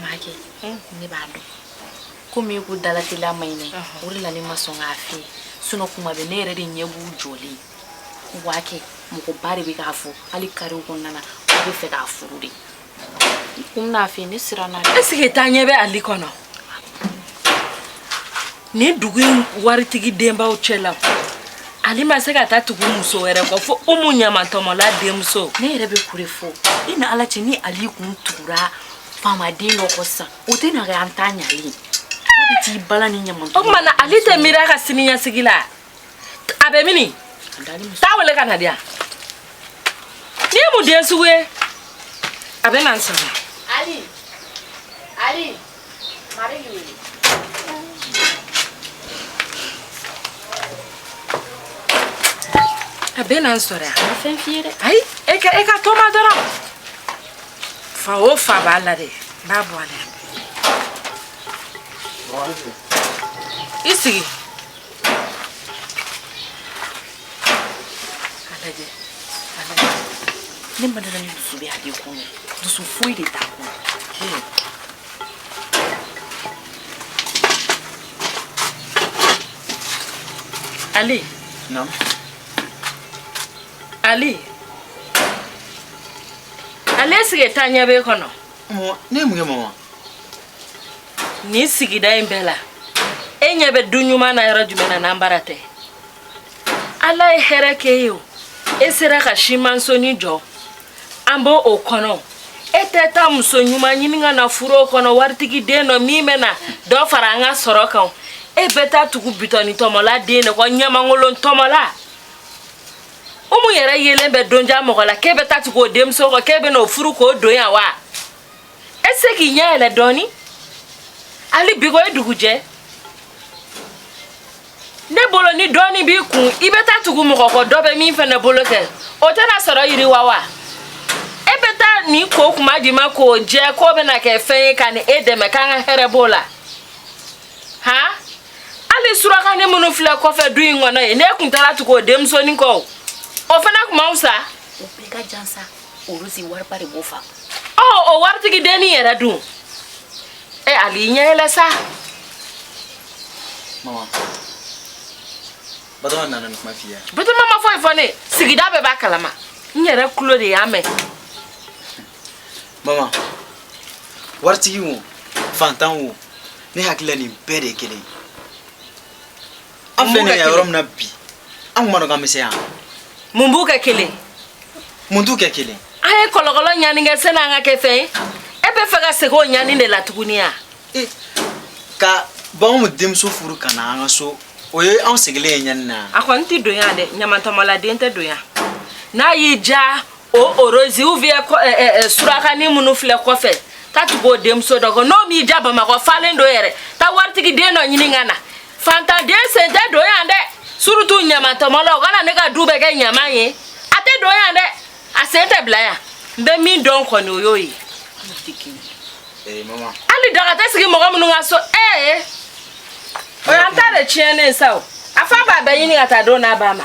maa kɛ ne b'a dɔn komi e ko dalatila ma ɲinɛ o de la ne ma sɔn k'a fɔ sinɔn kuma bɛɛ ne yɛrɛ de ɲɛ b'u jɔlen waa kɛ mɔgɔba de bɛ k'a fɔ hali karew kɔnɔna na u bɛ fɛ k'a furu de kunna fɛ ne siranna est ce que taa ɲɛ bɛ ali kɔnɔ ni dugu in waritigi denbaw cɛ la ali ma se ka taa tugu muso wɛrɛ kɔ fo umu ɲamantɔmɔla denmuso ne yɛrɛ bɛ kure fɔ i n'ala cɛ ni ali kun tugura faamaden dɔ kɔ sisan o tɛ na kɛ an taa ɲɛ ali a bɛ t'i bala ni ɲamantɔmɔna ali tɛ miiri a ka siniɲɛsigi la a bɛ min i t'a wele ka na di yan nin ye mun den sugu ye a bɛ na n sɔrɔ ali ali A bɛ na n sɔrɔ yan. A ma fɛn f'i ye dɛ. Ayi e ka e k'a to n ma dɔrɔn. Fa o fa b'a la dɛ. N b'a bɔ a la. I sigi. a lajɛ a lajɛ ne ma da a la ni dusu bɛ a de kun ye dusu foyi de t'a kun ali ali ali est ce que taa ɲɛ b'e kɔnɔ ne ye mun kɛ mama nin sigida in bɛɛ la e ɲɛ bɛ du ɲuman na yɔrɔ jumɛn na n'an bara tɛ ala ye hɛrɛ k'e ye o e sera ka simansoni jɔ an b'o kɔnɔ e tɛ taa muso ɲuman ɲini ka na furu o kɔnɔ waritigi den dɔ min bɛ na dɔ fara an ka sɔrɔ kan e bɛ taa tugu bitɔni tɔmɔla den de kɔ ɲamankolon tɔmɔla umu yɛrɛ yelen bɛ donja mɔgɔ la k'e bɛ taa tugu o denmuso kɔ k'e bɛ n'o furu k'o don yan wa e se k'i ɲɛ yɛlɛ dɔɔni hali bi ko e dugujɛ ne bolo ni dɔɔni b'i kun i bɛ taa tugu mɔgɔ kɔ dɔ bɛ min fana bolo kɛ o tɛna sɔrɔ yiriwa wa e bɛ taa nin ko kuma di ma k'o jɛ k'o bɛna kɛ fɛn ye ka na e dɛmɛ k'an ka hɛrɛ b'o la han hali surakanin minnu filɛ kɔfɛ du in kɔnɔ yen n'e kun taara tugu o denmusonin kɔ o fana kun man fisa o bɛɛ ka jan sa olu si wariba de b'o fa ɔ o waritigi dennin yɛrɛ dun E Ali i ɲɛ yɛlɛ sa mama batoma nana ni kuma f'i ye batoma ma foyi fɔ n ye sigida bɛɛ b'a kalama n yɛrɛ kulo de y'a mɛn mama waritigi wo fantan wo ne hakilila nin bɛɛ de ye kelen ye an filɛ nin ye yɔrɔ min na bi an kun b'a dɔn k'an bɛ se yan mun b'u kɛ kelen mun t'u kɛ kelen an ye kɔlɔkɔlɔ ɲani kɛ sani an ka kɛ fɛn ye e bɛ fɛ ka segin o ɲani de la tuguni ya e, ka b'anw mu denmuso furu ka na an ka so o ye anw sigilen ye ɲani na a kɔni tɛ don yan dɛ ɲamantɔmɔladen tɛ don yan n'a y'i diya o orozi ou bien surakani minnu filɛ kɔfɛ taa tugu o denmuso dɔ kɔ n'o m'i diya bamakɔ falen don yɛrɛ taa waritigi den dɔ ɲini ka na fantanden sen tɛ don yan dɛ surtout ɲamantɔmɔla o kana ne ka du bɛɛ kɛ ɲaman ye a tɛ don yan dɛ a sen tɛ bila yan n bɛ min dɔn kɔni o y'o ye eh, hali daga tɛ sigi mɔgɔ minnu ka so ee eh, o y'an ta de tiɲɛnen sa o a fa b'a bɛɛ ɲini ka taa don n'a ba ma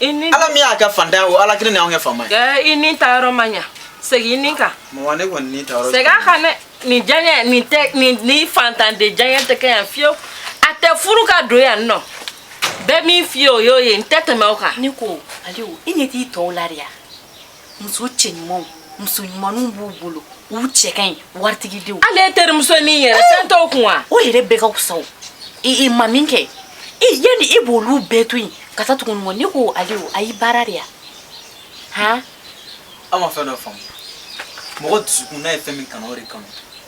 ala min y'a kɛ fantan ye o ala kelen de y'anw kɛ faama ye eh, i nin ta yɔrɔ ma ɲa segin i ni kan mama ne kɔni ni ta yɔrɔ segin a kan dɛ nin diyaɲɛ nin tɛ nin ni fantanden diyaɲɛ tɛ kɛ yan fiyewu a tɛ furu ka don yan ne bɛ min f'i ye o y'o ye n tɛ tɛmɛ o kan ne ko aliou i ɲɛ t'i tɔw la de ya muso cɛɲumanw muso ɲumanw b'u bolo u cɛ ka ɲi waritigi denw ale ye terimuso min yɛrɛ fɛn eh! t'o kun wa o yɛrɛ bɛɛ ka fisa o i i ma min kɛ i yanni e b'olu bɛɛ to yen ka taa tugu nin kɔ ne ko aliou a y'i baara de ya han an ma fɛn dɔ faamu mɔgɔ dusukun n'a ye fɛn min kanu o de kanu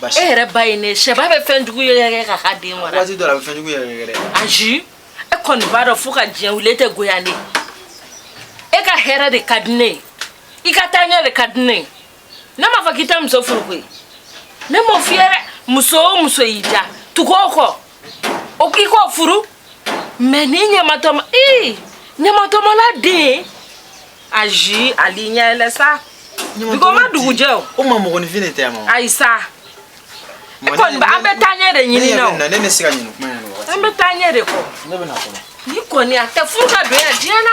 basi e yɛrɛ ba ye ne cɛba bɛ fɛn jugu yɛrɛ ka ka den wara waati dɔ la a bɛ fɛn jugu yɛrɛ dɛ ayi e kɔni b'a dɔn fo ka diɲɛ wuli e tɛ goya ne e ka hɛrɛ de ka di ne ye i ka taaɲɛ de ka di ne ye ne m'a fɔ k'i tɛ muso furu koyi ne m'o f'i ye dɛ muso o muso y'i diya tugu o kɔ o k'i k'o furu mais ni ɲamatɔma ii ɲamantɔmɔladen ayi ali ɲɛ yɛlɛ sa dugu ma dugujɛ o o ma mɔgɔninfin de tɛ ma ayi sa i kɔni an bɛ taaɲɛ de ɲini na o ne bɛ se ka ɲini kuma an bɛ taaɲɛ de kɔ ne bɛ na kɔnɔ nin kɔni a tɛ furu ka don yan diɲɛ na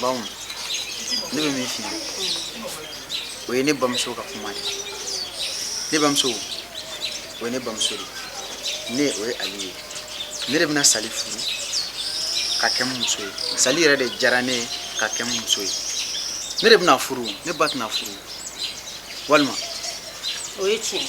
bawo ne bɛ min f'i ye o ye ne bamuso ka kuma de ye ne bamuso o ye ne bamuso de ye ne o ye ali ye ne de bɛna sali furu ka kɛ n muso ye sali yɛrɛ de diyara ne ye ka kɛ n muso ye ne de bɛna furu ne ba tɛna furu walima o ye tiɲɛ ye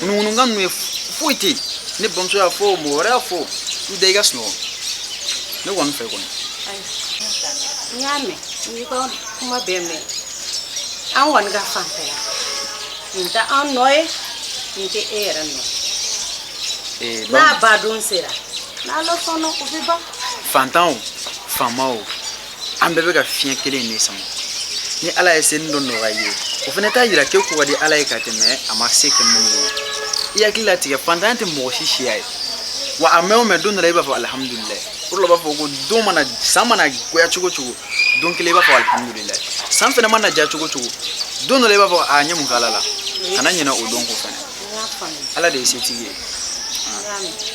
ŋunuŋunukan ninnu ye foyi tɛ yen ne bamuso y'a fɔ mɔgɔ wɛrɛ y'a fɔ i da i ka sunɔgɔ ne kɔni fɛ kɔni n y'a mɛn n y'i ka kuma bɛɛ mɛn an kɔni ka fan fɛ yan nin tɛ an nɔ ye nin tɛ e yɛrɛ nɔ ye n'a ban don sera n'ala sɔnna o bɛ ban fantan o faama o an bɛɛ bɛ ka fiɲɛ kelen de sama ni ala ye seni dɔ nɔgɔya i ye o fana t'a yira k'e ko ka di ala ye ka tɛmɛ a ma se kɛ minnu ye i hakili latigɛ fantanya tɛ mɔgɔ si siya ye wa a mɛn o mɛn don dɔ la i b'a fɔ alihamudulilayi o de la u b'a fɔ ko don mana san mana goya cogo cogo don kelen i b'a fɔ alihamudulilayi san fɛnɛ mana diya cogo cogo don dɔ la i b'a fɔ n ye mun k'ala la kana ɲinɛ o don ko fɛnɛ ala de ye setigi ye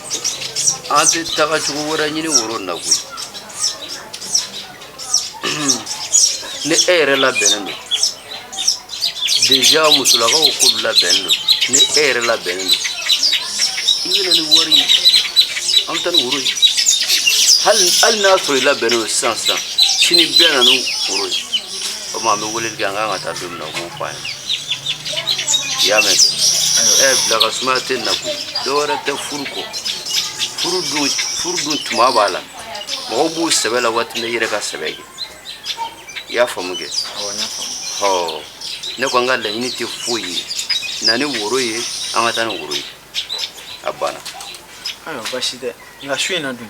an tɛ taga cogo wɛrɛ ɲini woro in na koyi ni e yɛrɛ labɛnnen don deja musolakaw k'u labɛnnen don ni e yɛrɛ labɛnnen don i bɛ na ni wari ye an bɛ taa ni woro ye hali n'a sɔrɔ i labɛnnen don sisan sisan sini i bɛ na ni woro ye komi an bɛ weleli kɛ an kan ka taa don min na u b'o fɔ an ye i y'a mɛn kɛ ɛ bila ka sumaya tɛ na koyi dɔ wɛrɛ tɛ furu kɔ furu dun tuma b'a la mɔgɔw b'u sɛbɛ la waati min na i yɛrɛ ka sɛbɛ kɛ i y'a faamu kɛ awɔ n y'a faamu ɔ ne ko an ka laɲini tɛ foyi ye na ni woro ye an ka taa ni woro ye a banna ayiwa baasi tɛ nka su in na dun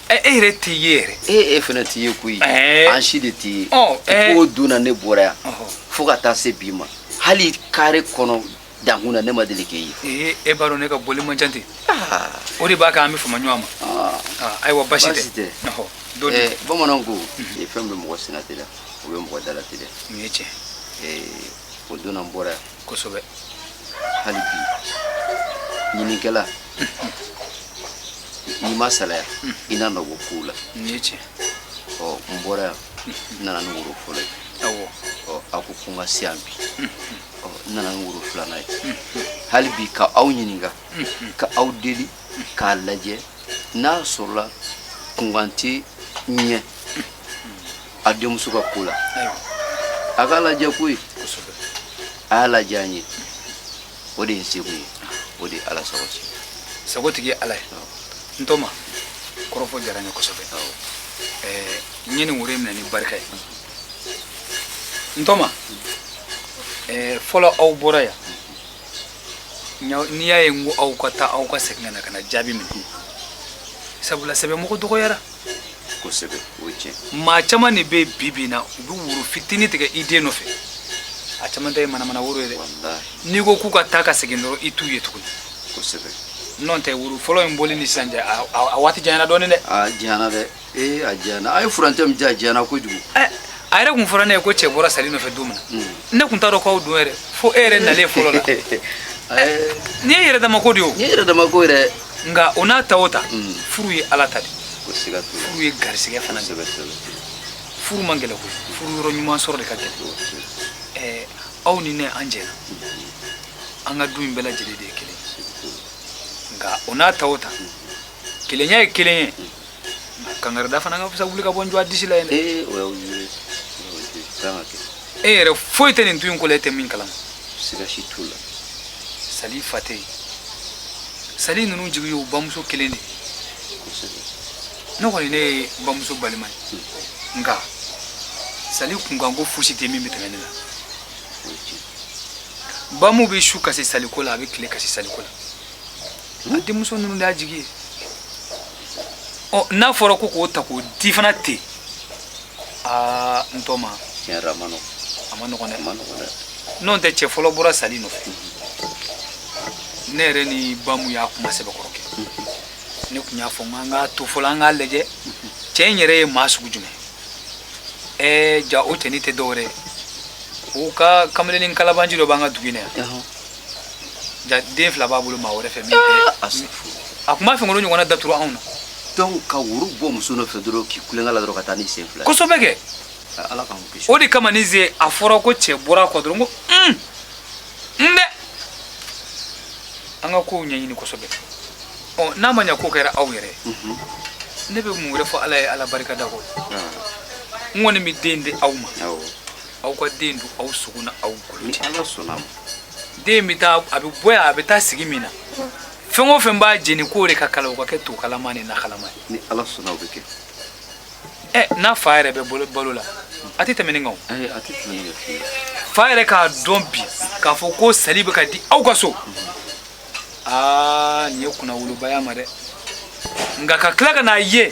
ɛ e yɛrɛ t'i ye yɛrɛ e e fana t'i ye koyi Ɛɛ. an si de t'i ye Ɔ, ɛɛ. k'o don na ne bɔra yan Ɔhɔ. fo ka taa se bi ma hali kare kɔnɔ dankun na ne ma deli k'e ye ee e b'a dɔn ne ka bɔli man ca ten Ah, o de b'a kɛ an bɛ fama ɲɔgɔn ma ah. Ah, ayiwa basi tɛ. Basi tɛ. Ɔhɔ, dɔ di Eh, bamananw ko eh, fɛn bɛ mɔgɔ sennateliya o bɛ mɔgɔ dalateliya nin ye tiɲɛ Eh, o don na n bɔra yan kosɛbɛ hali bi ɲinikɛla n'i ma salaya i na nɔ bɔ kow la nin ye tiɲɛ ɔ n bɔra yan n nana ni woro fɔlɔ ye awɔ ɔ a ko ko n ka se yan bi ɔ n nana ni woro filanan ye hali bi ka aw ɲininka ka aw deli k'a lajɛ n'a sɔrɔla kunkan tɛ ɲɛ a denmuso ka ko la a k'a lajɛ koyi a y'a lajɛ an ye o de ye seko ye o de ye ala sago se sago tigi ye ala ye n tɔma kɔrɔfɔ diyara n ye kosɛbɛ n ye nin woro minɛ ni barika ye n tɔma fɔlɔ aw bɔra yan n'i y'a ye n ko aw ka taa aw ka segin ka na ka na jaabi minɛ sabula sɛbɛmɔgɔ dɔgɔyara kosɛbɛ o ye tiɲɛ maa caman de bɛ bi bi in na u bɛ woro fitinin tigɛ i den nɔfɛ a caman ta ye manamana woro ye dɛ walahi n'i ko k'u ka taa ka segin dɔrɔn i t'u ye tuguni kosɛbɛ nɔntɛ woro fɔlɔ in bɔli ni sisan cɛ a- a a waati janyana dɔɔnin dɛ a janyana dɛ ee a janyana a ye furancɛ min di a janyana kojugu Ɛ, a yɛrɛ kun fɔra ne ye ko cɛ bɔra sali nɔfɛ don min Mm. na ne kun t'a dɔn k'aw don yɛrɛ fo e yɛrɛ nalen fɔlɔ la a ye nin ye yɛrɛ dama ko de ye o nin ye yɛrɛ dama ko yɛrɛ nka o n'a ta o ta mm. furu ye ala ta de furu ye garisɛgɛ fana de furu man gɛlɛ koyi furu yɔrɔ ɲuman sɔrɔ de ka gɛlɛ aw ni ne an jɛna an ka du in bɛɛ lajɛlen de ye kelen nka o n'a ta o ta kelenya ye kelen ye Kangarida fana ka fisa wuli ka bɔ n dɔgɔ disi la ye dɛ. Ee o y'aw ye o ye kan ka kɛ E yɛrɛ foyi tɛ nin du in ko la e tɛ min kalama. siga si t'o la Sali fa tɛ yen. Sali ninnu jigi y'o bamuso kelen de ye. kosɛbɛ Ne kɔni ne ye bamuso balima ye. Nka Sali kunkanko fosi tɛ min bɛ tɛmɛ ne la. o ye tiɲɛ Bamu bɛ su kasi Sali ko la a bɛ tile kasi Sali ko la. A denmuso ninnu de y'a jigi ye. ɔ n'a fɔra ko k'o ta k'o di fana ten aa n tɔɔma tiɲɛ yɛrɛ la a man nɔgɔn a man nɔgɔn dɛ a man nɔgɔn dɛ n'o tɛ cɛ fɔlɔ bɔra sali nɔfɛ ne yɛrɛ ni bamu y'a kuma sɛbɛkɔrɔ kɛ ne kun y'a fɔ n k'an k'a to fɔlɔ an k'a lajɛ cɛ in yɛrɛ ye maa sugu jumɛn ɛɛ jaa o cɛnin tɛ dɔwɛrɛ ye o ka kamalennin kalabaanci dɔ b'an ka dugu in na yan Ɔhɔn. Jaa den fila b'a bolo maa wɛrɛ fɛ min tɛ a se fo a kun b'a fɛ k'olu ɲɔgɔnna da turu anw na donc ka woro bɔ muso nɔfɛ dɔrɔn k'i kulenkɛ la dɔrɔn ka taa ni sen fila ye. kosɛbɛ kɛ Ka ala k'an kisi o de kama nin sen a fɔra ko cɛ bɔra a kɔ dɔrɔn ko un n dɛ an ka kow ɲɛɲini kosɛbɛ ɔ n'a maa ko kɛra aw yɛrɛ ye, Mhm. ne bɛ mun wɛrɛ fɔ ala ye ala barika da kɔ Ah, n kɔni bɛ den di aw ma awɔ aw ka den don aw sogo n'aw golo cɛ ala sɔnna ma den bɛ taa a bɛ bɔ yan a bɛ taa sigi min na fɛn o fɛn b'a jeni k'o de ka kala o ka kɛ to kalama ni na kalama ye ni ala sɔnna o bɛ kɛ ɛ n'a fa yɛrɛ bɛ balo la a tɛ tɛmɛ nin kan o ayi a tɛ tɛmɛ ne fɛ fa yɛrɛ k'a dɔn bi k'a fɔ ko sali bɛ ka di aw ka so aa nin ye kunnawoloba y'a ma dɛ nka ka tila ka n'a ye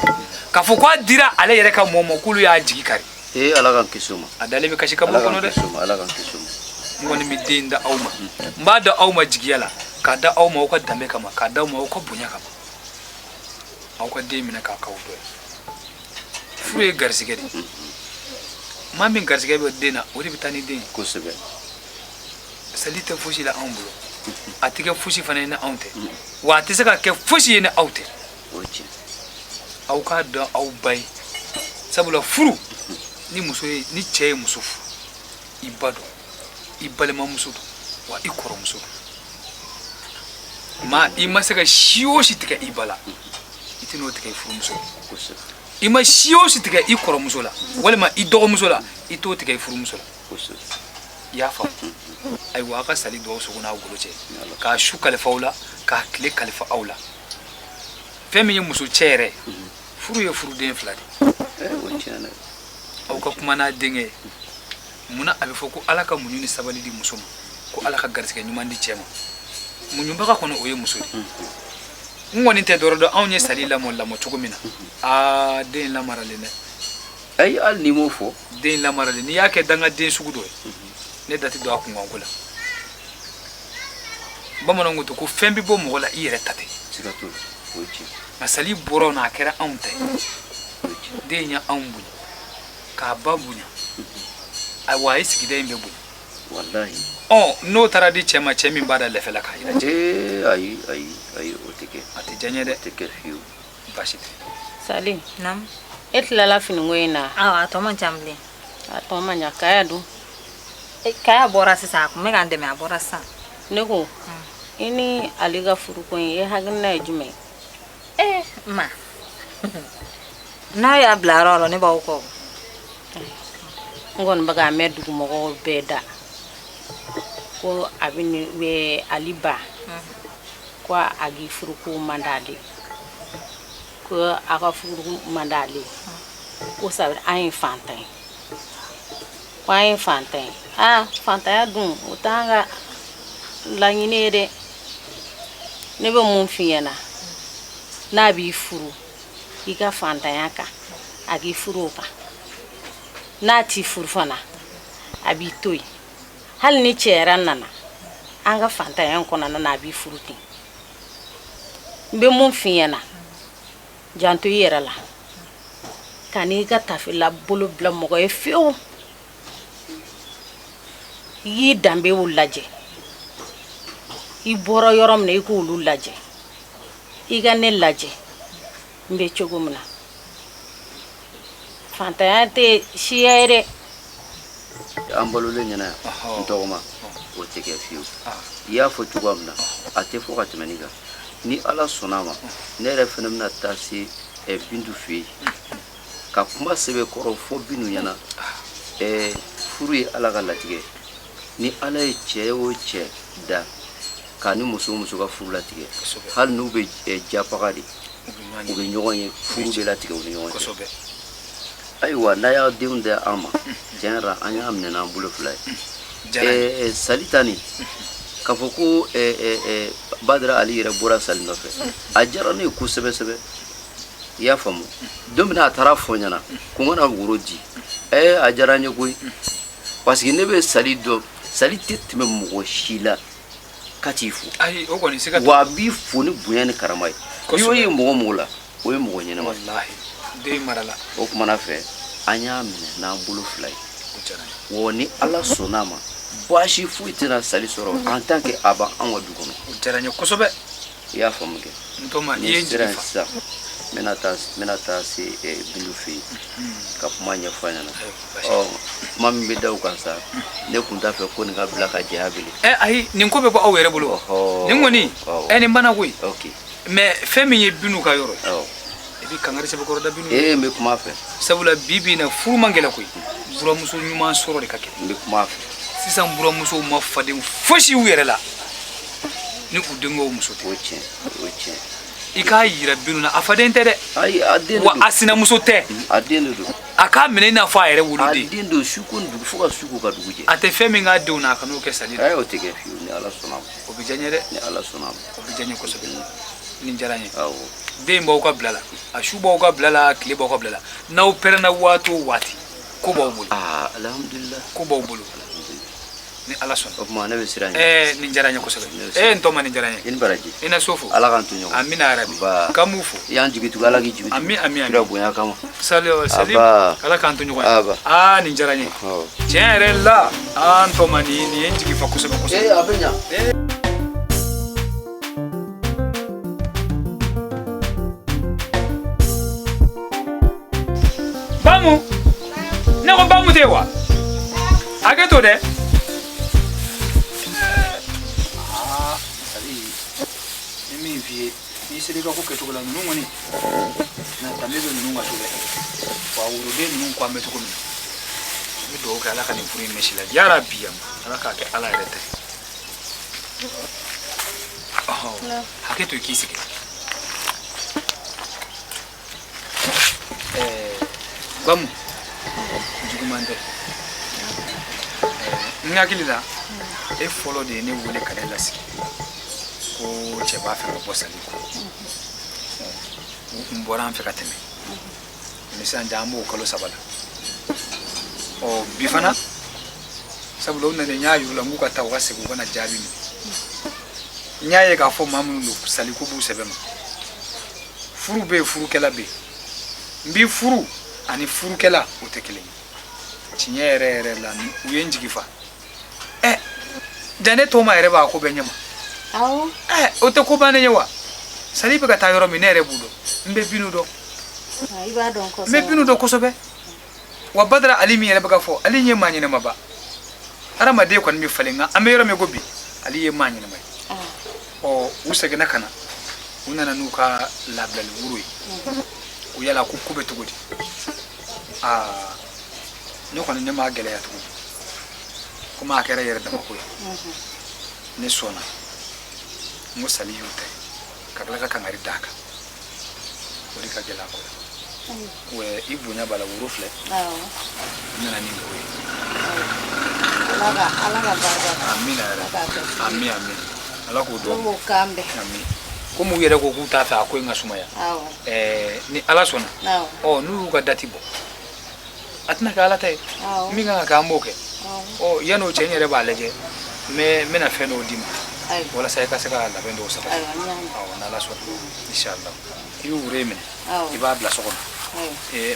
k'a fɔ ko a dira ale yɛrɛ ka mɔɔ ma k'olu y'a jigi kari ee ala k'an kisi o ma a dalen bɛ kasi kaburu kɔnɔ dɛ ala k'an kisi o ma n kɔni bɛ den da aw ma n b'a da aw ma jigiya la k'a da aw ma aw ka danbe kama k'a da aw ma aw ka bonya kama aw ka den minɛ k'a k'aw dɔ ye furu ye garisɛgɛ de ye maa min garisɛgɛ bɛ den na o de bɛ taa ni den ye kosɛbɛ sali tɛ fosi la anw bolo a tɛ kɛ fosi fana ye ni anw tɛ wa a tɛ se ka kɛ fosi ye ni aw tɛ o ye tiɲɛ aw k'a dɔn aw ba ye sabula furu ni muso ye ni cɛ ye muso furu i ba don i balimamuso don wa i kɔrɔmuso don ma i ma se ka si o si tigɛ i ba la i tɛn'o tigɛ i furumuso i ma si o si tigɛ i kɔrɔmuso la walima i dɔgɔmuso la i t'o tigɛ i furumuso la i y'a faamu ayiwa aw ka sali don aw sogo n'aw golo cɛ k'a su kalifa aw la k'a tile kalifa aw la fɛn min ye muso cɛ yɛrɛ furu ye furuden fila de aw ka kuma n'a denkɛ munna a bɛ fɔ ko ala ka muɲu ni sabali di muso ma ko ala ka garisɛgɛ ɲuman di cɛ ma muɲubaga kɔni o ye muso de n kɔni tɛ dɔwɛrɛ dɔn anw ye sali lamɔ lamɔ cogo min na aa den lamaralen dɛ ayi hali n'i m'o fɔ den lamaralen n'i y'a kɛ dangaden sugu dɔ ye ne da tɛ don a kunkanko la bamananw ko to ko fɛn bɛ bɔ mɔgɔ la i yɛrɛ ta tɛ nka sali bɔra an na a kɛra anw ta ye den ye anw bonya k'a ba bonya ayiwa a ye sigida in bɛɛ bonya ɔ n'o taara di cɛ ma cɛ min b'a da lɛfɛ la k'a yira cɛ ayi ayi ayi o tɛ kɛ a tɛ diya n ye dɛ a tɛ kɛ fiyewu baasi tɛ sali e tilala finiko in na a tɔ man ca bilen a tɔ man jan kaya dun e, kaya bɔra sisan a tun bɛ k'an dɛmɛ a bɔra sisan ne ko i ni ale ka furuko in e hakilina ye jumɛn ee ma n'aw y'a bila yɔrɔ o yɔrɔ ne b'aw kɔ n kɔni bɛ k'a mɛn dugumɔgɔw bɛɛ da ko a bɛ ne bɛ ali ba ko a k'i furuko man d'ale ko a ka furuko man d'ale ye ko sabu an ye fantan ye ko an ye fantan ye aa fantanya dun o t'an ka laɲini ye dɛ ne bɛ mun f'i ɲɛna n'a b'i furu i ka fantanya kan a k'i furu o kan n'a t'i furu fana a b'i to yen hali ni cɛ wɛrɛ nana an ka fantanya in kɔnɔna na a b'i furu ten n bɛ mun f'i ɲɛna janto i yɛrɛ la kan'i ka tafela bolo bila mɔgɔ ye fewu i y'i danbew lajɛ i bɔra yɔrɔ min na i k'olu lajɛ i ka ne lajɛ n bɛ cogo min na fantanya tɛ siya ye dɛ an balolen ɲɛna yan n tɔgɔma o tɛ kɛ fiyewu i y'a fɔ cogoya min na a tɛ fɔ ka tɛmɛ nin kan ni ala sɔnna a ma ne yɛrɛ fana bɛna taa se eh, bintu fɛ yen ka kuma sɛbɛkɔrɔ fɔ bintu ɲɛna eh, furu ye ala ka latigɛ ye ni ala ye cɛ o cɛ da k'a ni muso o muso ka furu latigɛ hali n'u bɛ eh, japaga de u bɛ ɲɔgɔn ye furu bɛ latigɛ u ni ɲɔgɔn cɛ ayiwa n'a y'a denw di an ma tiɲɛ yɛrɛ an y'a minɛ n'an bolo fila ye eh, eh, sali ta nin k'a fɔ ko badara ali yɛrɛ bɔra sali nɔfɛ a diyara ne ye kosɛbɛ sɛbɛ i y'a faamu don min a taara fɔ n ɲɛna ko n ka na woro di a diyara n ye koyi Parce que ne bɛ sali dɔn sali tɛ tɛmɛ mɔgɔ si la ka t'i fo wa a b'i fo ni bonya ni karama ye n'i y'o ye mɔgɔ mɔgɔ la o ye mɔgɔ ɲɛnama o tuma na fɛ an y'a minɛ n'an bolo fila ye wa ni ala sɔnna a ma baasi foyi tɛna sali sɔrɔ en tant que a b'an ka du kɔnɔ i y'a faamu kɛ n'i sera yen sisan n bɛna taa n bɛna taa se bintu fɛ yen ka kuma ɲɛfɔ a ɲɛna ɔ kuma min bɛ da o kan sa ne tun t'a fɛ ko nin ka bila ka jɛya bele ɛ ayi nin ko bɛɛ b'aw yɛrɛ bolo nin kɔni ɛ nin banna koyi mais fɛn min ye bintu ka yɔrɔ ye i bɛ kangari sɛbɛkɔrɔ da bintu ye n bɛ kuma a fɛ sabula bi bi in na furu man gɛlɛn koyi buramuso ɲuman sɔrɔ de ka gɛlɛn n bɛ kuma a fɛ sisan buramusow ma faden fosi u yɛrɛ la ni u denkɛw muso tɛ o tiɲɛ o tiɲɛ i k'a yira bintu na a faden tɛ dɛ ayi a den de wa a sinamuso tɛ a den de don a k'a minɛ i n'a fɔ a yɛrɛ woloden a den don su ko dugu fo ka su ko ka dugu jɛ a tɛ fɛn min k'a denw na a kan'o kɛ sali la ayi o tɛ kɛ fiyewu ni ala sɔnna o bɛ diya n ye dɛ ni ala sɔnna o bɛ diya n ye kosɛbɛ nin diyara n ye awɔ den b'aw ka bila la a su b'aw ka bila la tile b'aw ka bila la n'aw pɛrɛnna waati o waati ko b'aw bolo aa alihamudulila ko b'aw bolo ni ala sɔnna o tuma ne bɛ sira ɲini ɛɛ nin diyara n ye kosɛbɛ ee n tɔma nin diyara n ye i ni baraji i na so fo ala k'an to ɲɔgɔn amina yarabi k'an b'u fo i y'an jigi tugu ala k'i jigi ami ami kira bonya kama sali sali ala k'an to ɲɔgɔn ye aa nin diyara n ye tiɲɛ yɛrɛ la n tɔma nin nin ye n jigi fa kosɛbɛ kosɛbɛ ee a bɛ ɲa ne ko bamu tɛ wa hakɛ to dɛ ni min f'i ye n'i sera i ka ko kɛcogo la ninnu kɔni na danbe bɛ ninnu ka so dɛ wa woroden ninnu ko an bɛ cogo min na n bɛ dugawu kɛ ala ka nin furu in mɛsi la yarabi yan ala k'a kɛ ala yɛrɛ ta ye hakɛ to i k'i sigi eh, bamu juguman tɛ n hakili la e fɔlɔ de ye ne wele ka ne lasigi ko cɛ b'a fɛ ka bɔ sali kɔ u tun bɔra an fɛ ka tɛmɛ sisan an b'o kalo saba la ɔ bi fana sabula u nana n y'a yir'u la n k'u ka taa u ka segin u ka na jaabi minɛ n y'a ye k'a fɔ maa minnu don sali ko b'u sɛbɛ ma furu bɛ yen furukɛla bɛ yen n b'i furu ani furukɛla o tɛ kelen ye tiɲɛ yɛrɛ yɛrɛ la ninnu ye n jigi fa ɛ ja ne tɔma yɛrɛ b'a ko bɛɛ ɲɛma ɛ o tɛ ko bannen ye wa sali bɛ ka taa yɔrɔ min ne yɛrɛ b'u dɔn n bɛ bintu dɔn n bɛ bintu dɔn kosɛbɛ wa badara ali min yɛrɛ bɛ ka fɔ ali ye maa ɲɛnɛma ba hadamaden kɔni bɛ falen nka an bɛ yɔrɔ min ko bi ali ye maa ɲɛnɛma ye ɔ u seginna ka na u nana n'u ka labilali woro ye ko yala ko ko bɛ cogo di aa ne kɔni ne m'a gɛlɛya tugun komi a kɛra yɛrɛ dama ko ye ne sɔnna n ko sali y'u ta ye ka tila ka kangari d'a kan o de ka gɛlɛ a ko rɔ wɛ i bonya b'a la woro filɛ n nana ni woro ye ala ka barika amin yɛrɛ amin amin ala k'o dɔn k'o kan bɛɛ amin komi u yɛrɛ ko k'u t'a fɛ a ko in ka sumaya ni ala sɔnna ɔ n'u y'u ka dati bɔ a tɛna kɛ ala ta ye min kan ka kɛ an b'o kɛ ɔ yanni o cɛ n yɛrɛ b'a lajɛ n bɛna fɛn dɔw d'i ma walasa i ka se ka labɛn dɔw sabati n'ala sɔnna inshallah i bɛ woro in minɛ i b'a bila so kɔnɔ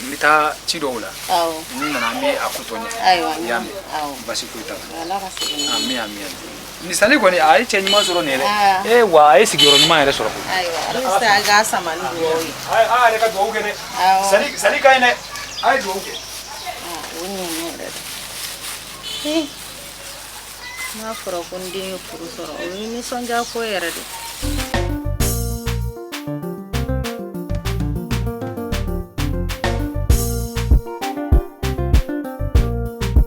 n bɛ taa ci dɔw la ni n nana an bɛ a ko tɔ ɲɛ i y'a mɛn basi foyi t'a la amin amin ni sali kɔni a ye cɛ ɲuman sɔrɔ nin yɛrɛ ah. ee eh, wa a ye sigiyɔrɔ ɲuman yɛrɛ sɔrɔ koyi ayiwa ala bɛ se an k'a sama ni dugawu ye a yɛrɛ ka dugawu kɛ dɛ sali sali ka ɲi dɛ a ye dugawu kɛ o ɲɛna yɛrɛ de n'a fɔra ko n den ye furu sɔrɔ o ye nisɔndiya ko yɛrɛ de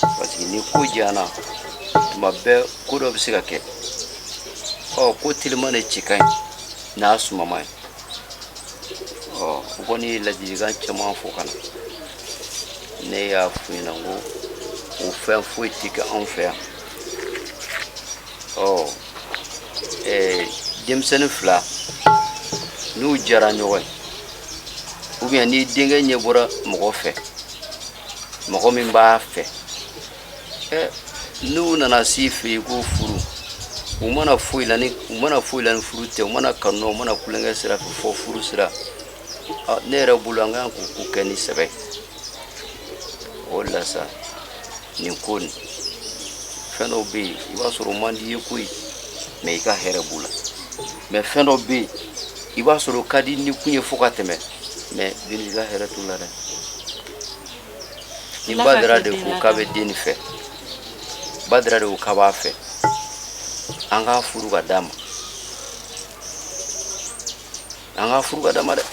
parce que ni ko janyana tuma bɛɛ ko dɔ bɛ se ka kɛ ɔ ko telima de cɛ ka ɲi n'a sumama ye ɔ o kɔni ye ladilikan caman fɔ ka na ne y'a f'u ɲɛna ko o fɛn foyi tɛ kɛ anw fɛ yan ɔ ɛɛ denmisɛnnin fila n'u diyara ɲɔgɔn ye ou bien ni denkɛ ɲɛ bɔra mɔgɔ fɛ mɔgɔ min b'a fɛ n'u nana s'i fɛ yen ko furu u ma na foyi la ni furu tɛ u ma na kanu u ma na tulonkɛ sira fɛ fo furu sira ne yɛrɛ bolo an kan k'u ko kɛ ni sɛbɛ o de la sa nin ko nin fɛn dɔw bɛ yen i b'a sɔrɔ o man di i ye koyi mɛ i ka hɛrɛ b'u la mɛ fɛn dɔw bɛ yen i b'a sɔrɔ o ka di ni kun ye fo ka tɛmɛ mɛ i ka hɛrɛ t'u la dɛ ni badara de ko k'a bɛ den nin fɛ badara de ko k'a b'a fɛ an k'a furu ka d'a ma an k'a furu ka d'a ma dɛ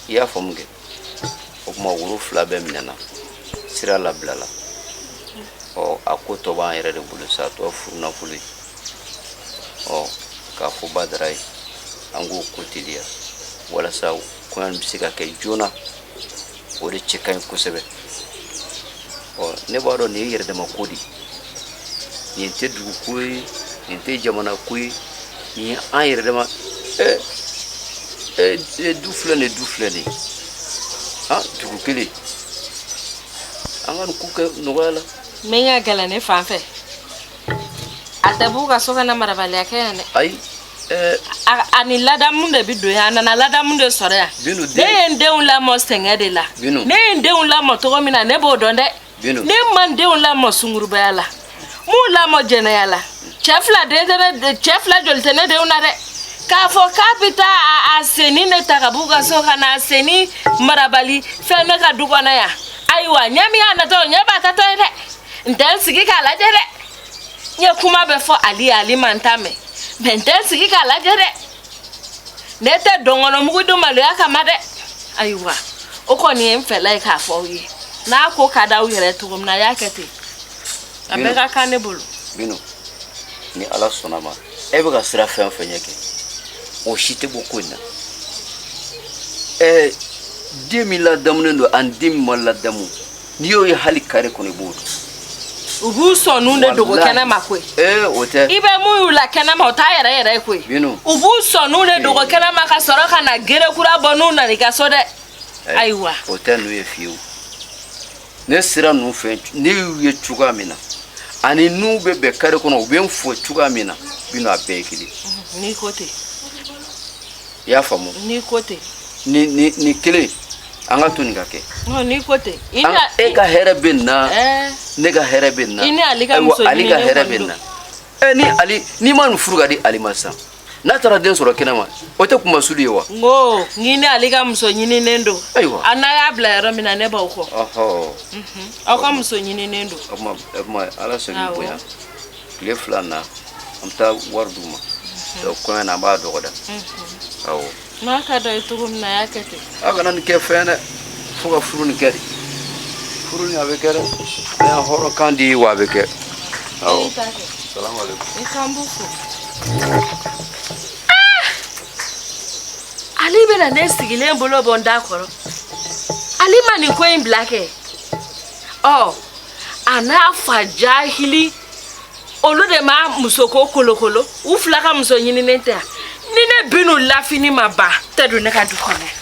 i y'a faamu kɛ o tuma woro fila bɛɛ minɛna sira labilala ɔ a ko tɔ b'an yɛrɛ de bolo sa tɔ furu nafolo ye ɔ k'a fɔ Badara ye an k'o ko teliya walasa kɔɲɔ bɛ se ka kɛ joona o de cɛ ka ɲi kosɛbɛ ɔ ne b'a dɔn nin ye yɛrɛdama ko de ye nin tɛ dugu ko ye nin tɛ jamana ko ye nin ye an yɛrɛdama ɛ ɛ du filɛ nin ye du filɛ nin ye han dugu kelen an ka nin ko kɛ nɔgɔya la. min ka gɛlɛn ne fan fɛ. A tɛ b'u ka so ka na marabaliya kɛ yan dɛ ayi ɛɛ a a ni ladamu de bi don yan a nana ladamu de sɔrɔ yan Bintu, den- ne ye n denw lamɔ sɛgɛn de la Bintu. ne ye n denw lamɔ cogo min na ne b'o dɔn dɛ Bintu. ne ma n denw lamɔ sungurubaya la m'u lamɔ jɛnɛya la cɛ fila den tɛ ne de- cɛ fila joli tɛ ne denw na dɛ k'a fɔ k'a bɛ taa a- a senni ne ta ka b'u ka so ka na a senni marabali fɛn ne ka du kɔnɔ yan ayiwa ɲɛ min y'a natɔ ɲɛ b'a taatɔ ye dɛ n tɛ n sigi k'a lajɛ dɛ n ye kuma bɛɛ fɔ ali ye ali ma n ta mɛn mɛ n tɛ n sigi k'a lajɛ dɛ ne tɛ dɔnkɔnɔmugu dun maloya kama dɛ ayiwa o kɔni ye n fɛla ye k'a fɔ aw ye n'a ko ka d'aw yɛrɛ cogo min na a y'a kɛ ten a bɛɛ ka kan ne bolo bino ni ala sɔnna ma e bɛ ka siran fɛn o fɛn ɲɛ kɛ o si tɛ bɔ ko in na ɛɛ den min ladamunen don ani den min ma ladamu n'i y'o ye hali kare kɔnɔ i b'o dɔn u b'u sɔnnu de dogo kɛnɛma koyi ee o tɛ i bɛ min y'u la kɛnɛma o t'a yɛrɛ yɛrɛ ye koyi binu u b'u sɔnnu de dogo kɛnɛma ka sɔrɔ ka na gere kura bɔ n'u nana i ka so dɛ ayiwa o tɛ n'u ye fiyewu ne sira ninnu fɛ ne y'u ye cogoya min na ani n'u bɛ bɛn kare kɔnɔ u bɛ n fo cogoya min na binu a bɛɛ ye kelen n'i ko ten i y'a faamu n'i ko ten ni ni ni kelen an k'a to nin ka kɛ n'i ko ten e ka hɛrɛ bɛ nin na ne ka hɛrɛ bɛ nin na i ni ale ka muso ale ka hɛrɛ bɛ nin na ɛ ni ale n'i ma nin furu k'a di Ali ma sisan n'a taara den sɔrɔ kɛnɛ ma o tɛ kunmasuuli ye wa n ko n'i ni Ali ka muso ɲininen don ayiwa a n'a y'a bila yɔrɔ min na ne b'aw kɔ aw ka muso ɲininen don o tuma o tuma ala sɔnni bonya tile fila na an bɛ taa wari d'u ma kɔɲɔ na an b'a dɔgɔda awɔ N'a ka d'aw ye cogo min na a y'a kɛ ten. Aw kana nin kɛ fɛn dɛ fo ka furu nin kɛ de furu nin a bɛ kɛ dɛ an y'an hɔrɔnkan di wa a bɛ kɛ awɔ I t'a kɛ. salamalekun. I k'an b'u fo. ali bɛna ne sigilen bolo bɔ n da kɔrɔ ali ma nin ko in bila kɛ ɔ a n'a fa jahili olu de ma musoko kolokolo u fila ka muso ɲininen tɛ ni ne bin'u lafini ma ba tɛ don ne ka du kɔnɔ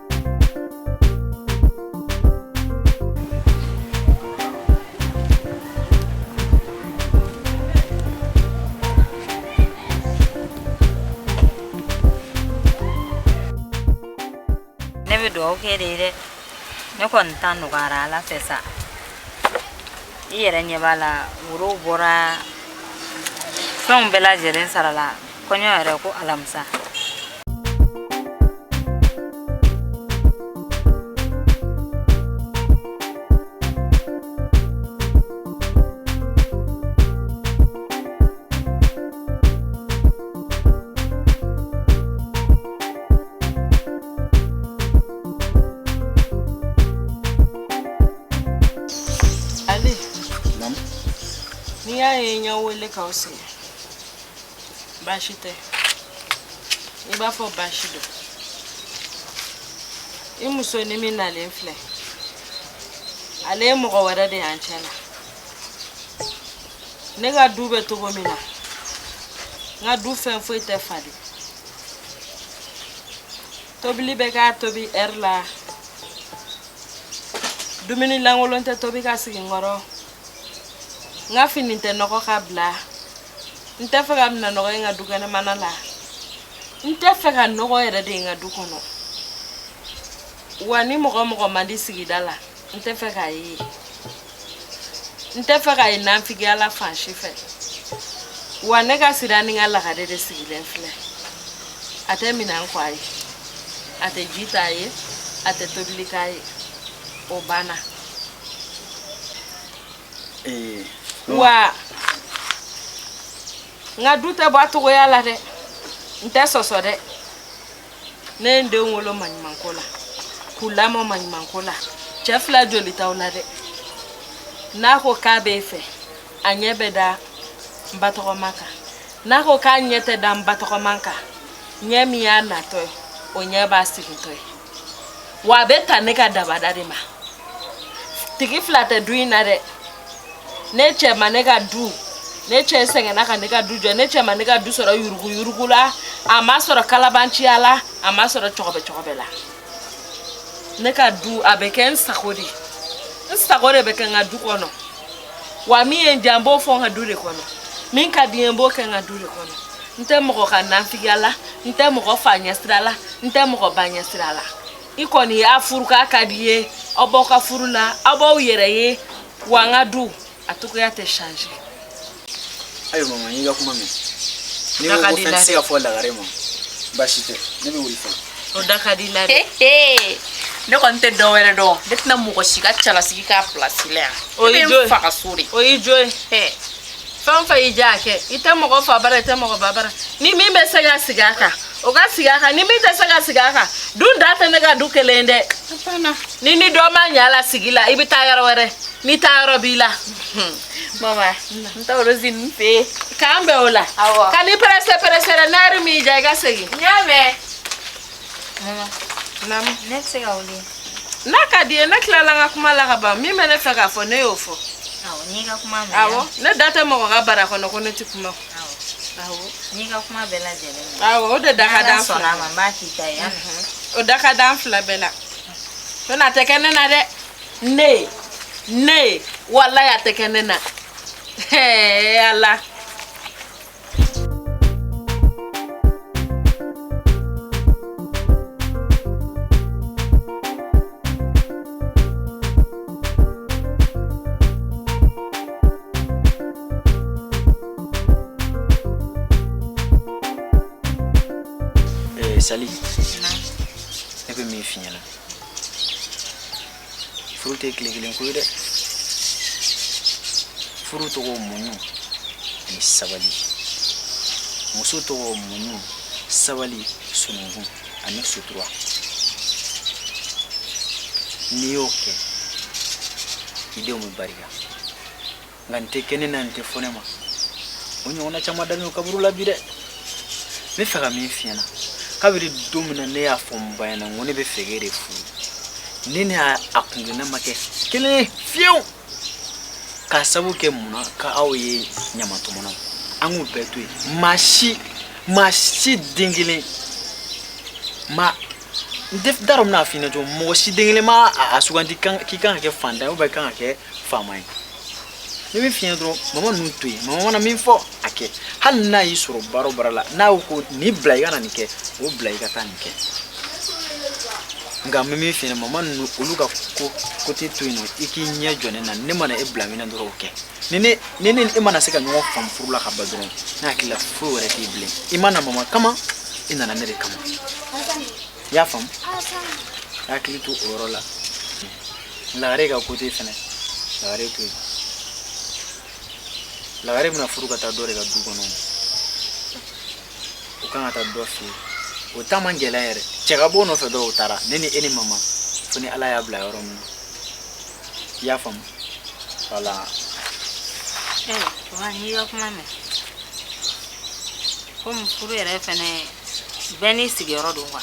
ne bɛ dugawu kɛ e de ye dɛ ne kɔni ta nɔgɔyara ala fɛ sa i yɛrɛ ɲɛ b'a la worow bɔra fɛnw bɛɛ lajɛlen sarala kɔɲɔ yɛrɛ ko alamisa n'i y'a ye n y'aw wele k'aw sigi baasi tɛ i b'a fɔ baasi don i muso nin min nalen filɛ ale ye mɔgɔ wɛrɛ de y'an cɛ la ne ka du bɛ cogo min na n ka du fɛn foyi tɛ falen tobili bɛ ka tobi ɛri la dumuni lankolon tɛ tobi ka sigi n kɔrɔ n ka fini tɛ nɔgɔ ka bila n tɛ fɛ ka minan nɔgɔ ye n ka du kɛnɛmana la n tɛ fɛ ka nɔgɔ yɛrɛ de ye n ka du kɔnɔ wa ni mɔgɔ mɔgɔ man di sigida la n tɛ fɛ k'a ye n tɛ fɛ ka ye nafigiya la fan si fɛ wa ne ka sira ni n ka lagare de sigilen filɛ a tɛ minan ko a ye a tɛ ji t'a ye a tɛ tobili k'a ye o banna ee wa n ka du tɛ bɔ a cogoya la dɛ n tɛ sɔsɔ dɛ ne ye n denw wolo maɲumanko la k'u lamɔ maɲumanko la cɛ fila joli t'aw la dɛ n'a ko k'a b'e fɛ a ɲɛ bɛ da n ba tɔgɔma kan n'a ko k'a ɲɛ tɛ da n ba tɔgɔma kan ɲɛ min y'a natɔ ye o ɲɛ b'a sigitɔ ye wa a bɛ ta ne ka dabada de ma tigi fila tɛ du in na dɛ ne cɛ ma ne ka du ne cɛ sɛgɛnna ka ne ka du jɔ ne cɛ ma ne ka du sɔrɔ yurugu yurugu la a ma sɔrɔ kalabanciya la a ma sɔrɔ cɔgɔbɛ cɔgɔbɛ la ne ka du a bɛ kɛ n sago de ye n sago de bɛ kɛ n ka du kɔnɔ wa min ye n diya n b'o fɔ n ka du de kɔnɔ min ka di n ye n b'o kɛ n ka du de kɔnɔ n tɛ mɔgɔ ka nanfigiya la n tɛ mɔgɔ fa ɲɛsira la n tɛ mɔgɔ ba ɲɛsira la i kɔni y'a furu k'a ka di ye aw b'aw ka furu la aw b'aw yɛrɛ ye wa n ka du a cogoya tɛ change ayiwa mama n y'i ka kuma mɛn n'i ko ko fɛn tɛ se ka fɔ lagare ma baasi tɛ ne bɛ wuli fɔlɔ o da ka di la dɛ ne kɔni tɛ dɔ wɛrɛ dɔn ne tɛna mɔgɔ si ka cɛlasigi k'a pilasi la yan o y'i jo ye fa ka so de o y'i jo ye fɛn o fɛn y'i diya a kɛ i tɛ mɔgɔ fa bara i tɛ mɔgɔ ba bara ni min bɛ se ka sigi a kan o ka sigi a kan ni min tɛ se ka sigi a kan dun da tɛ ne ka du kelen dɛ ni ni dɔ ma ɲɛ a la sigi la i bɛ taa yɔrɔ wɛrɛ n'i taa yɔrɔ b'i la mama n taw do zin fe kan be ola awa kan i presse presse ra naru mi ja ga segi nyame mama nam ne se ga wuli na ka di na kila la ga kuma la ga ba mi mene fe ga fo ne yo fo awo ni ga kuma me awo ne data mo ga bara ko no ko ne ti kuma awo awo ni ga kuma bela jele awo o de da ka dan fla ma ba ki ta ya o da ka dan fla bela to na te kenena de ne ne walayi a tɛ kɛ ne na ala sali ne bɛ min f'i ɲɛna furu tɛ tile kelen ko ye dɛ furu tɔgɔ muɲu ani sabali muso tɔgɔ muɲu sabali sununkun ani sutura n'i y'o kɛ i denw bɛ barika nka n tɛ kɛ ne na n tɛ fɔ ne ma o ɲɔgɔnna caman dalen don kaburu la bi dɛ n b'a fɛ ka min f'i ɲɛna kabiri don min na ne y'a fɔ n ba ɲɛna n ko ne b'a fɛ k'e de furu ne ne y'a a kungirinna ma kɛ kelen ye fiyewu k'a sabu kɛ mun na k'aw ye ɲamatɔmɔnaw an k'u bɛɛ to yen maa si maa si den kelen ma n tɛ n t'a dɔn n bɛna f'i ɲɛna cogo min mɔgɔ si den kelen ma a a sugandi kan- k'i kan ka kɛ fantan ye ou bien i kan ka kɛ faama ye ne b'a f'i ɲɛna dɔrɔn mama ninnu to yen mama mana min fɔ a kɛ hali n'a y'i sɔrɔ baara o baara la n'a ko nin bila i ka na nin kɛ o bila i ka taa nin kɛ nka n bɛ min f'i ɲɛna mama ninnu olu ka ko ko tɛ to yen nɔ i k'i ɲɛ jɔ ne na ne mana e bila min na dɔrɔn o kɛ ni ne ni ne e mana se ka ɲɔgɔn faamu furu la ka ban dɔrɔn ne hakili la foyi wɛrɛ t'i bilen i ma na mama kama i nana ne de kama i y'a faamu i hakili to o yɔrɔ la lagare ka ko tɛ fɛnɛ lagare to yen lagare bɛna furu ka taa dɔ de ka du kɔnɔ o kan ka taa dɔ fɛ o ta man gɛlɛn yɛrɛ cɛ ka b'o nɔfɛ dɔrɔn o taara ne ni e ni mama fo ni ala y'a bila yɔrɔ min na i y'a faamu wala wa n'i ka kuma mɛn komi furu yɛrɛ fɛnɛ bɛɛ n'i sigiyɔrɔ don kuwa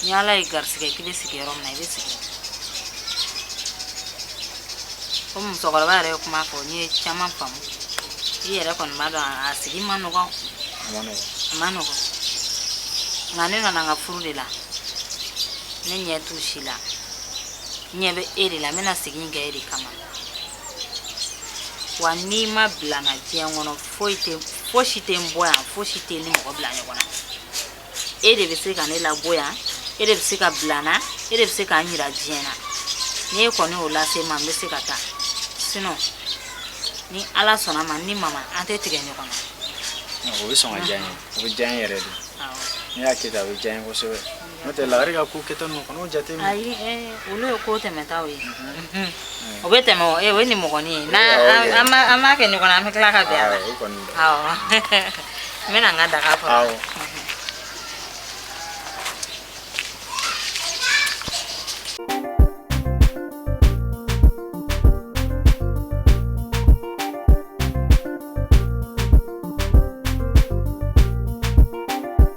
ni ala ye garisɛgɛ k'i bɛ sigi yɔrɔ min na i bɛ sigi komi musokɔrɔba yɛrɛ ye kuma fɔ n ye caman faamu i yɛrɛ kɔni b'a dɔn a sigi ma nɔgɔn a ma nɔgɔn nka ne nana n ka furu de la ne ɲɛ t'u si la n ɲɛ bɛ e de la n bɛna sigi in kɛ e de kama wa n'i ma bila n na diɲɛ kɔnɔ foyi tɛ fosi tɛ n bɔ yan fosi tɛ n ni mɔgɔ bila ɲɔgɔn na e de bɛ se ka ne labɔ yan e de bɛ se ka bila n na e de bɛ se ka n jira diɲɛ na n'e kɔni y'o lase n ma n bɛ se ka taa sinɔn ni ala sɔnn'a ma ni mama an tɛ tigɛ ɲɔgɔn na o bɛ sɔn ka diya n ye o bɛ diya n yɛrɛ de n'i y'a kɛ ten a bɛ diya n ye kosɛbɛ n'o tɛ lagare ka ko kɛta ninnu kana o jate minɛ ayi olu ye ko tɛmɛtaw ye o bɛ tɛmɛ o ye nimɔgɔnin ye n'an b'a kɛ ɲɔgɔn na an bɛ tila ka bɛn a la n bɛna n ka daga kɔnɔ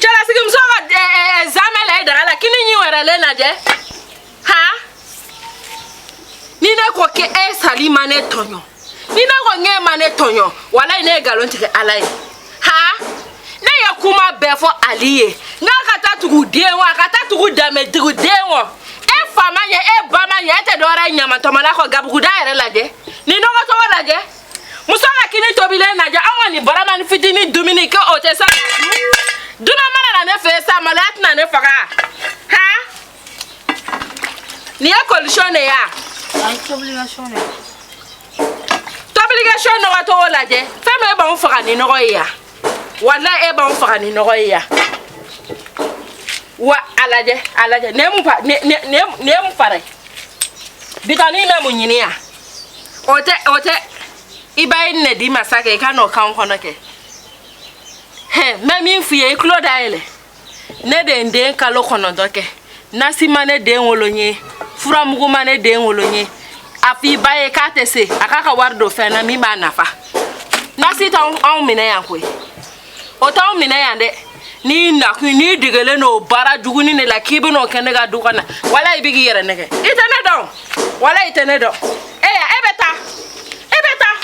cɛla sigi muso ka eh, eh, eh, zamɛ la i daga la kini ɲi wɛrɛ le lajɛ ha ni ne ko ke e sali ma ne tɔɲɔ ni ne ko ŋe ma ne tɔɲɔ walayi ne ye galon tigɛ ala ye ha ne ye kuma bɛɛ fɔ ali ye n k'a ka taa tugu den wa a ka taa tugu danbe tugu den wa e fa ma ɲɛ e ba ma ɲɛ e tɛ dɔwɛrɛ ye ɲamatɔmɔla kɔ gabuguda yɛrɛ lajɛ nin nɔgɔ cogo lajɛ muso ka kini tobilen lajɛ anw ka nin baramani fitini dumuni kɛ o tɛ sa dunan mana na ne fɛ sa maloya tɛna ne faga ha nin ye colisɔn de ye a tobilikɛsɔn nɔgɔ cogo lajɛ fɛn min e b'anw faga ni nɔgɔ ye yan walayi e b'anw faga ni nɔgɔ ye yan wa a lajɛ a lajɛ nin ye mun fa nin ye mun fara ye bitɔn nin bɛ mun ɲini yan. o tɛ o tɛ i ba ye nin di i ma sa kɛ i ka n'o k'an kɔnɔ kɛ hɛn n bɛ min f'i ye i tulo dayɛlɛ ne de ye n den kalo kɔnɔntɔn kɛ nasi ma ne den wolo n ye furamugu ma ne den wolo n ye a f'i ba ye k'a tɛ se a k'a ka wari don fɛn na min b'a nafa nasi t'anw minɛ yan koyi o t'anw minɛ yan dɛ n'i nakun n'i degelen n'o baara juguni de la k'i bɛn'o kɛ ne ka du kɔnɔ walayi i bɛ k'i yɛrɛ nɛgɛn i tɛ ne dɔn walayi i tɛ ne dɔn e ya e bɛ taa e bɛ taa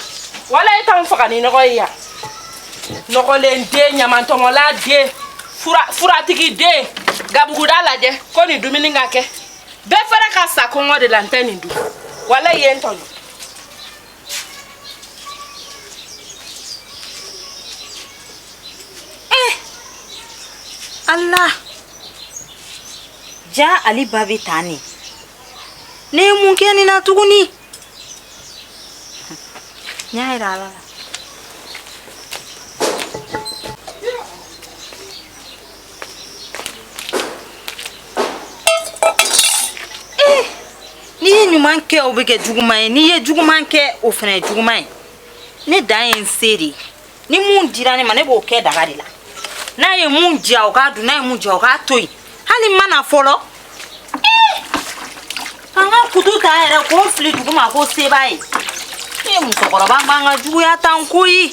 walayi e t'anw faga ni nɔgɔ ye yan nɔgɔlen den ɲamantɔmɔla den fura furatigi den gabuguda lajɛ ko nin dumuni ka kɛ préférer ka sa kɔngɔ de la n tɛ nin dun walayi i ye n tɔɲɔ Eh! Allah jaa ali ba bɛ tan ne ne ye mun kɛ nin na tuguni n y'a jira ala la Eh, n'i ye ɲuman kɛ o bɛ kɛ juguman ye n'i ye juguman kɛ o fana ye juguman ye ne dan ye n se de ye ni mun dira ne ma ne b'o kɛ daga de la n'a ye mun diya o k'a dun n'a ye mun diya o k'a to yen hali n mana fɔlɔ eh, ka n ka kutu ta yɛrɛ k'o fili duguma ko se b'a ye ne ye musokɔrɔba n b'an ka juguya tan koyi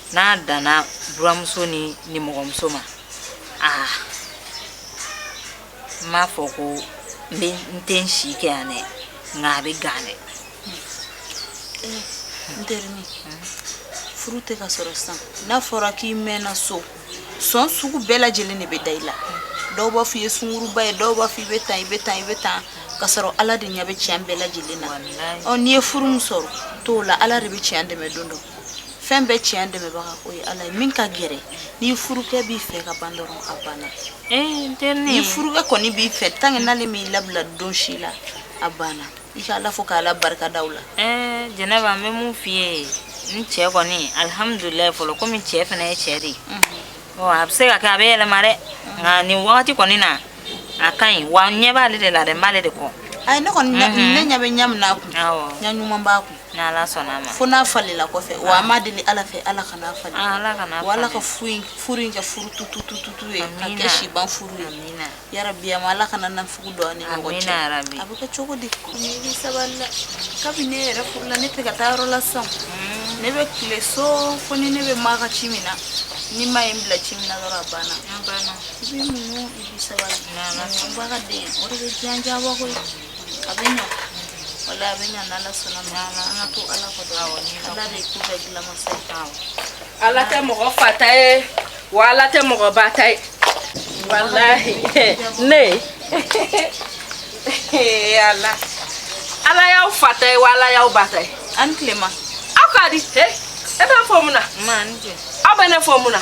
n'a danna buranmuso ni nimɔgɔmuso ma aa n m'a fɔ ko n bɛ n tɛ n si kɛ yan dɛ nka a bɛ gan dɛ n terinin furu tɛ ka sɔrɔ sisan n'a fɔra k'i mɛnna so sɔn sugu bɛɛ lajɛlen de bɛ da i la dɔw b'a fɔ i ye sunguruba ye dɔw b'a fɔ i bɛ tan i bɛ tan i bɛ tan ka sɔrɔ ala de ɲɛ bɛ tiɲɛ bɛɛ lajɛlen na ɔ n'i ye furu min sɔrɔ t'o la ala de bɛ tiɲɛ dɛmɛ don dɔ fɛn bɛɛ tiɲɛ dɛmɛbaga o ye ala ye min ka gɛlɛn ni furukɛ b'i fɛ ka ban dɔrɔn a banna eh, ni furukɛ kɔni b'i fɛ tant que n'ale m'i labila don si la a banna i ka ala fo k'ala barika da o la eh, jɛnɛba n bɛ mun f'i ye n cɛ kɔni alihamudulilayi fɔlɔ komi cɛ fana ye cɛ de ye mhm. a bɛ se ka kɛ a bɛ yɛlɛma dɛ nka nin wagati kɔni na a ka ɲi wa n ɲɛ b'ale de la dɛ n b'ale de kɔ ayi ne kɔni ne mhm. ɲɛ bɛ ɲɛ min na a kun ɲɛ ɲuman b'a kun fo n'a falenna kɔfɛ wa an b'a deli Ala fɛ Ala kan'a falen, aa Ala kan'a falen, wa Ala ka furu in furu in kɛ furu tutututu ye, amina, ka kɛ siban furu ye, amina, yarabi yaa Ala kana nafigiw don an ni ɲɔgɔn cɛ, amina yarabi, a bɛ kɛ cogo di, nin bɛ sabali dɛ, kabini ne yɛrɛ furula ne tɛ ka taa yɔrɔ la sisan, un, ne bɛ tile so fo ni ne bɛ maa ka ci min na, ni maa ye n bila ci min na dɔrɔn a banna, a banna, i bɛ muɲu i bɛ sabali, n'Ala sɔnna, muɲubaga den o de bɛ diya diya bɔ koyi a bɛ ɲa wala a bɛ ɲa n'ala sɔnn'a ma an an ka to ala kɔ dɔrɔn ala de ko bɛɛ dilan masa ye awɔ ala tɛ mɔgɔ fa ta ye wa ala tɛ mɔgɔ ba ta ye walahi ne ala ala y'aw fa ta ye wa ala y'aw ba ta ye an tilema aw ka di e bɛ fɔ mun na ma ni jɛ aw bɛ ne fɔ mun na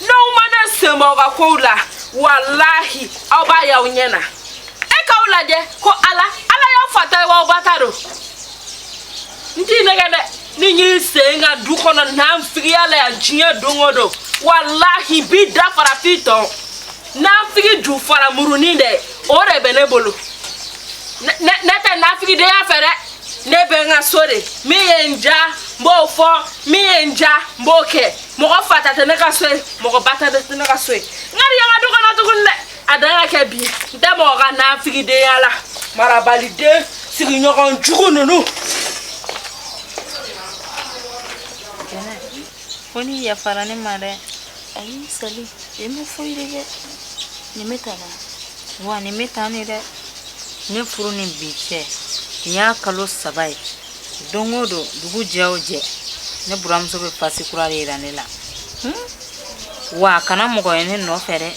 n'aw ma n'aw sen bɔ aw ka kow la walahi aw b'a y'aw ɲɛ na e k'aw lajɛ ko ala ala y'aw fa ta ye wa aw ba ta don n t'i nɛgɛn dɛ n'i y'i se n ka du kɔnɔ nafigiya la yan diɲɛ don o don walahi n b'i da fara f'i tɔn nafigi ju fara murunin dɛ o de bɛ ne bolo ne tɛ nafigidenya fɛ dɛ ne bɛ n ka so de min ye n diya n b'o fɔ min ye n diya n b'o kɛ mɔgɔ fa ta tɛ ne ka so ye mɔgɔ ba ta tɛ ne ka so ye n kan'i ye n ka du kɔnɔ tuguni dɛ a dan ka kɛ bi n tɛ mɔgɔ ka nafigidenya la marabaliden sigiɲɔgɔn jugu ninnu ko ni yafara ne ma dɛ ayi sali e ma foyi de kɛ nin bɛ ta la wa nin bɛ ta ne dɛ ne furu ni bi cɛ nin y'a kalo saba ye don o don dugu jɛ o jɛ ne buranmuso bɛ pasi kura de yira ne la hmm? wa a kana mɔgɔ ye ne nɔfɛ dɛ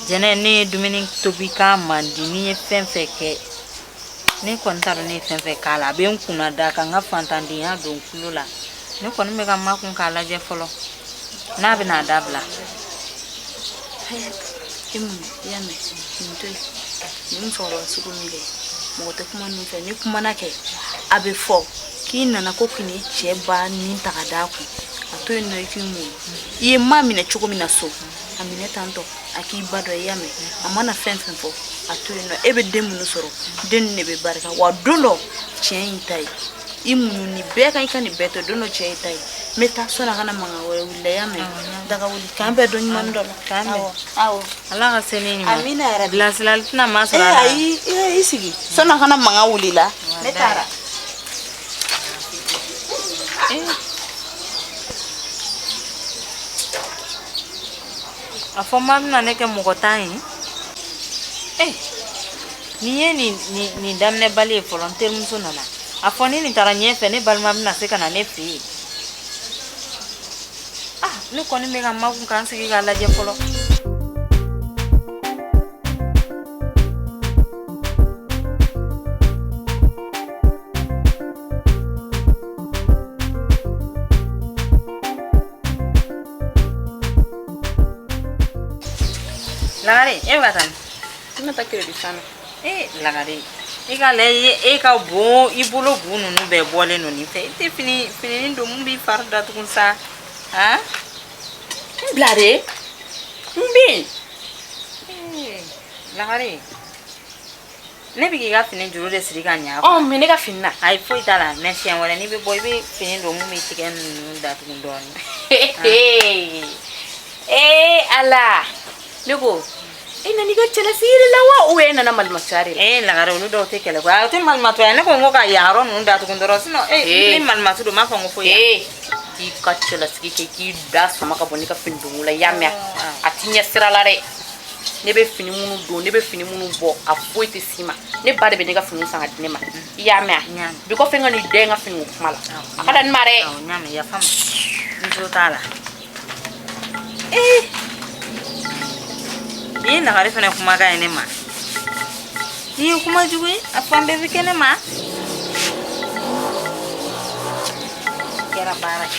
jɛnɛ ne ye dumuni tobi k'a man di ne ye fɛn fɛn kɛ ne kɔni t'a dɔn ne ye fɛn fɛn k'a la a bɛ n kunnada ka n ka fantandenya don n tulo la ne kɔni bɛ ka makun k'a lajɛ fɔlɔ n'a bɛn'a dabila i muɲu i y'a mɛn nin to yen nin musokɔrɔba sugu nin kɛ mɔgɔ tɛ kuma nin fɛ n'i kumana kɛ a bɛ fɔ k'i nana ko k'i ni cɛ ba ni ta ka d'a kun a to yen nɔ i k'i muɲu i ye ma minɛ cogo min na so a minɛ tan tɔ a k'i ba dɔ i y'a mɛn a mana fɛn fɛn fɔ a to yen nɔ e bɛ den minnu sɔrɔ den ninnu de bɛ barika wa don dɔ tiɲɛ y'i ta ye i muɲu nin bɛɛ kan i ka nin bɛɛ to don dɔ cɛ y'i ta ye n bɛ taa sani a ka na mankan wɛrɛ wuli la i y'a mɛn daga wuli k'an bɛn don ɲuman dɔ la k'an bɛn awɔ ala ka se ni ɲuman amina yɛrɛ bilasirali tɛna masɔrɔ a la ayi i sigi sani a ka na mankan wuli la ne taara a fɔ ma bɛna ne kɛ mɔgɔntan ye ee eh, nin ye nin daminɛbali ye fɔlɔ n terimuso nana a fɔ ni nin taara ɲɛfɛ ne balima bɛna se ka na ne fɛ yen ah ne kɔni bɛ ka makun ka n sigi k'a lajɛ fɔlɔ lagare e bɛ ka taa min ne bɛ taa kiredi fan na ee lagare i k'a lajɛ e ka bon i bolo bu ninnu bɛɛ bɔlen don nin fɛ i tɛ fininin don mun b'i fari datugu sa han n bila dɛ n bɛ yen lagare ne bɛ k'i ka fini juru de siri ka ɲa ɔ mɛ ne ka fini na ayi foyi t'a la mɛ siɲɛ wɛrɛ n'i bɛ bɔ i bɛ fini don mun b'i tigɛ ninnu datugu dɔɔnin ee ala ne ko e nana i ka cɛlasigi de la wa ou e nana malimatuya de la ee lagare olu dɔw tɛ kɛlɛ koyi a tɛ malimatuya ne ko n ko ka yan yɔrɔ ninnu datugu dɔrɔn sinɔn ee ni malimatu don n b'a fɔ n ko foyi ee k'i ka cɛlasigi kɛ k'i da sama ka bɔ ne ka fini don la i y'a mɛn a t'i ɲɛsira la dɛ ne bɛ fini minnu don ne bɛ fini minnu bɔ a foyi tɛ s'i ma ne ba de bɛ ne ka fini san ka di ne ma i y'a mɛn a bi kɔfɛ n kan'i da ye n ka finiko kuma la a ka dan nin ma dɛ n jo t'a la ee nin ye lagare fana kumakan ye ne ma nin ye kuma jugu ye a fan bɛɛ bɛ kɛ ne ma kɛra baara ye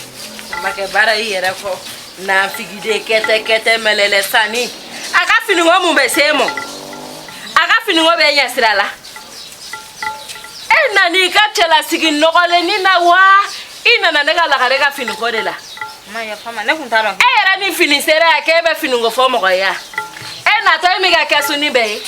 a ma kɛ baara y'i yɛrɛ kɔ nafigiden kɛtɛkɛtɛ mɛlɛlɛ sanni a ka finiko mun bɛ se e ma a ka finiko b'e ɲɛsira la e nana i ka cɛlasigi nɔgɔlennin na wa i nana ne ka lagare ka finiko de la e yɛrɛ ni fini sera yan k'e bɛ finiko fɔ mɔgɔ ye e natɔ e m'i ka kɛsunin bɛɛ ye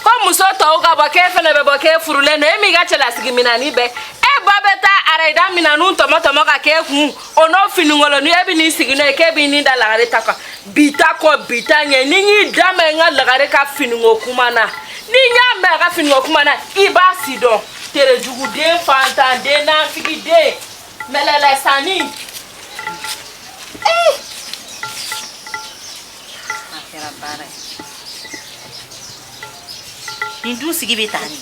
ko muso tɔw ka bɔ k'e fana bɛ bɔ k'e furulen don e m'i ka cɛlasigi minannin bɛɛ e ba bɛ taa arayida minanw tɔmɔ tɔmɔ ka k'e kun o n'o finikolonnin e bɛ n'i sigi n'o ye k'e b'i ni da lagare ta kan bi ta kɔ bi ta ɲɛ ni n y'i da mɛn n ka lagare ka finiko kuma na ni n y'a mɛn a ka finiko kuma na i b'a sidɔn terejuguden fantanden nanfigiden mɛlɛlɛsanni ee a kɛra baara ye nin dun sigi bɛ taa nin